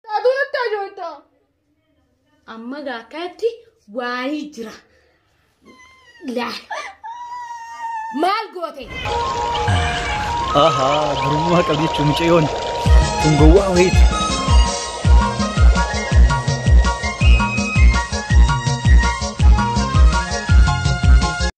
Taatu nutti ajoota. Amma gaa akkanatti waayii jira. Laal. Maal goote? Ahaa, gurummaa qabdi jechuun mucayyoon kun gowwaa wayiiti.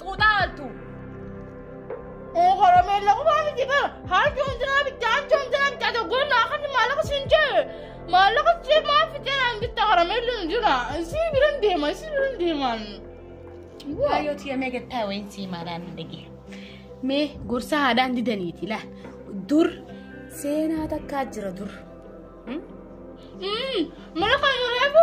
Xuuxaa altu. Horameen laqumaa miti bara. Harjoon jiraa bitti, harjoon jiraa bitti. Ati oggoon naa kan maallaqa siin jee. Maallaqa jee maaf fitee naan bitta horameen linu jira. Isii biran deema, isii biran deemaan. Waayoo tiya mee gattaa wayiin sii maalaan dhagee. Mee gorsa haadhaan didaniiti laa. Dur seenaa takkaa jira dur. Mala kan yoo reefu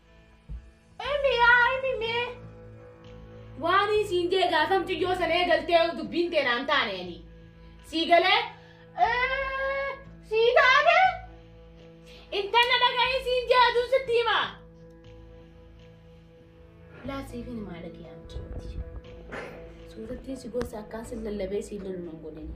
Emi yaa emi mee. Waan isiin jee gaasamtu yoo san eegaltee dubbiin tee naan taane ani. Sii galee. "Ee, Sii taate. Intanna dhagaa isiin jee aduun sitti hima. Laa siifin himaa dhagee hamtuuti. Suurattiin si gosa akkaan sin lallabee siin lolu nan godhani.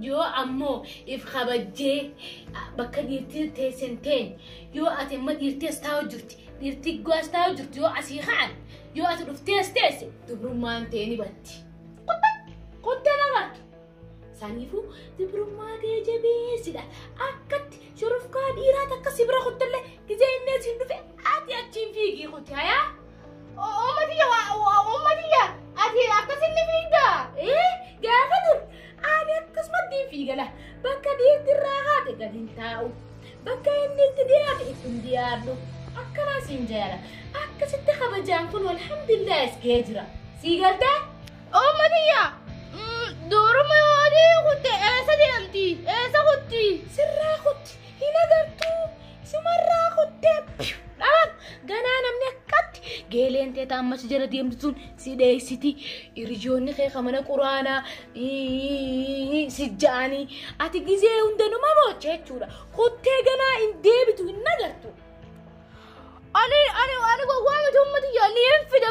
Yoo ammoo if kabajjee bakka dhiirtii teessan teen yoo ati amma dhiirtii as taa'u jirti dhiirtii goo as taa'u jirti yoo asii ka'an yoo ati dhuftee as teesse dubrummaan tee ni batti. Kottee lafaatu. Saniifuu dubrummaa tee jabeessidha. Akkatti shurufkaa dhiiraa takka si bira kottallee gizee inni asiin dhufe ati achiin fiigii kotti hayaa. Uummatiyya uummatiyya ati akkasin ni fiigda. Ee gaafa dur ani akkasumatti hin fiigala bakka dhiirti irraa haate gadi hin taa'u bakka inni itti dhiyaate itti hin dhiyaadhu akkanaa siin jaala akkasitti kabajaan kun alhamdulillah as ga'ee jira sii galtee. Uummatiyya duruma yoo adii kutte eessa deemti eessa kutti. Sirraa kutti hin agartuu. Sumarraa kuttee piyu dhabam. Ganaa namni akkatti geeleen tee taammachi jala deemtu sun si dheessiti. Hiriyoonni kee ka mana quraanaa ii, si ja'anii ati gizee hunda numa moocha jechuudha. Kuttee ganaa hin deebitu hin nagartu. Ani ani ani gowwaa miti ummati yaa ni hin fida.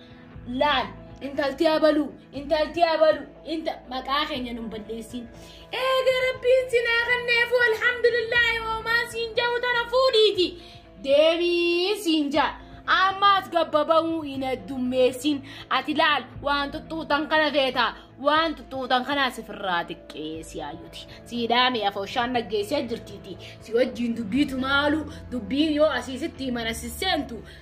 laal intalti abalu intalti abalu inta maqaa keenya nun balleessin eega rabbiin sinaa kanneefu alhamdulillaahi hoomaa siin ja'u tana fuudhiiti deebii siin ja'a ammaas gabbaba'uu hin addummeessin ati laal waan xuxxuutan kana feeta waan xuxxuutan kanaa sifirraa xiqqeessi ayyuti siidhaame afooshaan dhaggeessaa jirtiiti si wajjiin dubbiitu maalu dubbii yoo asiisitti himan asisseentu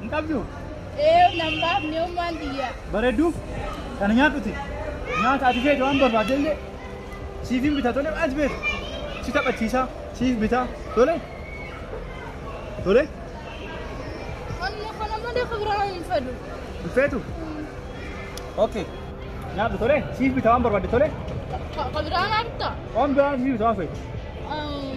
Hin qabdu? Ee nan baafne ummaan tiyya. Bareedduuf kana nyaadhuti. Nyaata ati feete waan barbaadde illee siif hin bita tole waan ati feete. Si taphachiisa siif bita tole. Tole Amma kana malee kan biraa hin fedhu. hin feetu. Okay. Nyaadhu tole siif bita waan barbaadde tole. Ka- Ka biraa maal ta'a? Waan biraa siif bita waan feete. Um,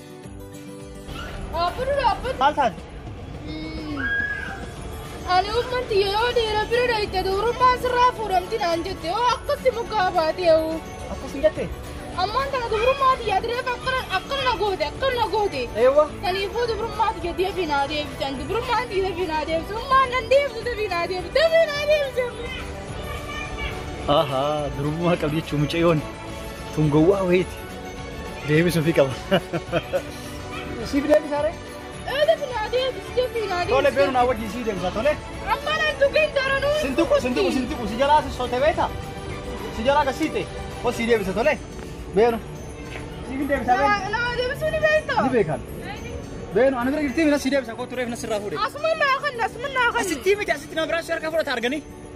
Abburu dhaabbatu. Maal taate? Ani uummanti yeroo dhiira bira dhayite dubrummaan sirraa fuudhamti naan jette yoo akkatti mukaa baatee hoo. Akkas hin jettee? Ammaan tana dubrummaa tiyya adireef akkana akkana na goote akkana na goote. Eewwa. Kaniifuu dubrummaa tiyya deebii naa deebisan dubrummaa tiyya deebii naa deebisu ummaan nan deebisu deebii naa deebisu deebii naa deebisu. Ahaa, durummaa qabdi jechuun mucayyoon tun gowwaa wayiiti. Deebisuufi qaba. Siif deebisaa ree? Eegas naa deebis deebi naa deebis. Tole beenu naa wajjin sii deebisa tole. Amma nan tuqin daranuu. Sintuqu sintuqu sintuqu si jalaa si sote beeta. Si jalaa gasiite. Ol sii deebisa tole. Beenu. Siif hin deebisaa beenu. Naa naa deebisuu ni beektaa. Ni beekan. Beenu ana bira jirtii mina sii deebisa koo tureef na sirraa fuudhe. Asuma naa kan asuma naa kan. Asitti miti asitti na biraa si harkaa fudhata arganii.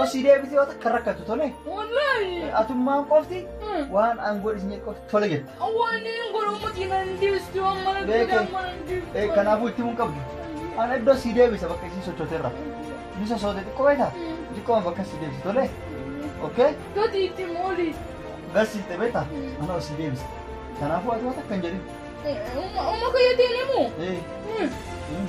Osii deebitee yoo takka rakkatu tole. Wallahi. Atummaan qofti waan aangoo dhiisnee qofti tole jette. Awwaaniin godhamu diinan deestu amma na Beeke. godhamu mana deestu. Eh, Kanaafuu itti mun qabdu. Ana iddoo sii deebisa bakka isiin sochooterra. Ni sosoote xiqqoo beektaa? Xiqqooma bakka sii deebisa tole. Okay? Gati itti mooli. Garsiiste beektaa? Ana osii deebisa. Kanaafuu ati waan takka hin jedhin. Umma kiyya deemu. Eh, Mm. mm.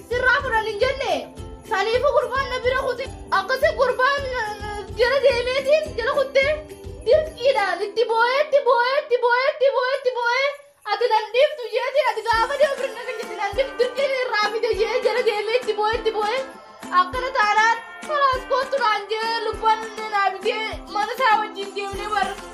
Sirraa fudhan hin jenne saniifu gurbaan na bira kute akkasi gurbaan jala deemeetiin jala kutte dirqiidhaan itti boo'eetti boo'eetti boo'eetti boo'eetti boo'ee ati nan dhiiftu jeetiin ati gaafa deemu bira na kennite nan dhiiftu dirqiin irraa fide jee jala deemee itti boo'eetti boo'ee akkana taanaan kalaas kootu naan jee lubban naa bitee mana isaa wajjin deemnee warra